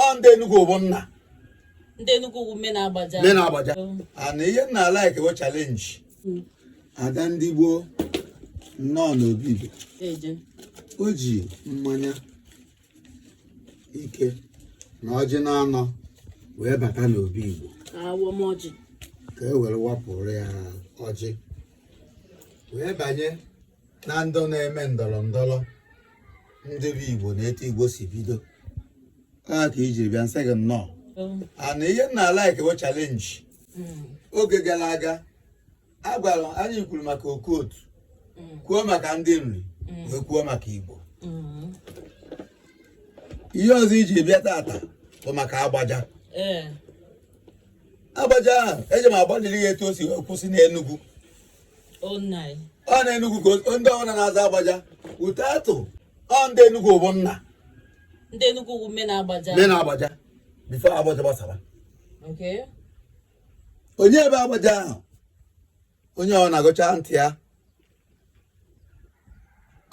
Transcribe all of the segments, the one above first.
ọ ndị Enugu bụ nna ndị Enugu bụ main agbaja main agbaja and ihe m na-alike bụ challenge hmm. ada ndị igbo nnọọ n'obi igbo o ji mmanya ike na ọjị na-anọ wee bata n'obi igbo ka e were wapụrụ ya ọjị wee banye na ndị na-eme ndọrọ ndọrọ ndị bụ igbo na etu igbo si bido ka i jiri bịa m sị gị nnọọ and ihe m na-alike bụ challenge hmm. oge gara aga agwara anyị kwuru maka okotu hmm. kwuo maka ndị nri hmm. wee kwuo maka igbo ihe ọzọ i ji bịa tata bụ maka agbaja eh. agbaja ahụ eji m agbalịrị ya etu o si kwụsị n'Enugu ọ na Enugu ka ndị ọbụla na-aza agbaja ute atụ ọ ndị Enugu bụ nna ndị Enugu bụ main agbaja main agbaja before agbaja gbasara onye bụ agbaja ahụ onye ọbụna gụchaa ntị ya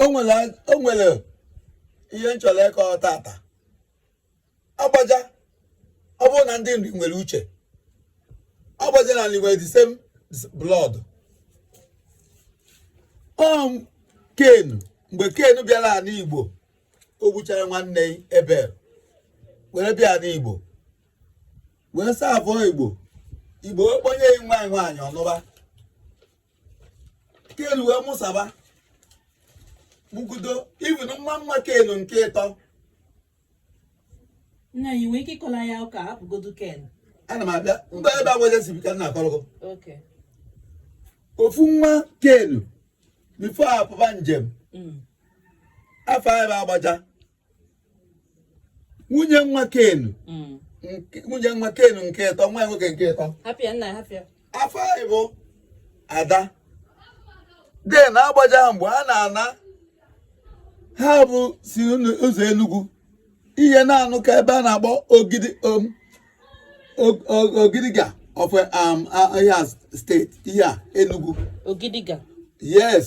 o nwere ihe m chọrọ ịkọ tata agbaja ọ bụrụ na ndị nri nwere uche agbaja na nri nwere the same blood ọm ken mgbe ken bịara ala igbo o gbuchara nwanne Ebel were bịa ala igbo wee serve igbo igbo wee kpọnye ya nwa nwaanyị ọ nụba ken wee mụsaba mụgodu even nwa nwa ken nke ịtọ nna anyị nwee ike ịkọla ya ụka hapụgodu ken ana m abịa mgbe ebe agbaja si bịa ka m na-akọrọ gị okay ofu nwa kenu before ọ pụba njem mm. afa ya bụ agbaja nwunye nwa kenu mm. nwunye nwa kenu nke ịtọ nwa ya nwoke nke ịtọ hapịa nna hapịa afa ya bụ ada then agbaja ha mgbe ha na-ana ha bụ si ụzọ enugwu ihe na-anụ ka ebe a na-akpọ ogidi um, ogidiga of um, Abia State ihe a enugwu ogidiga yes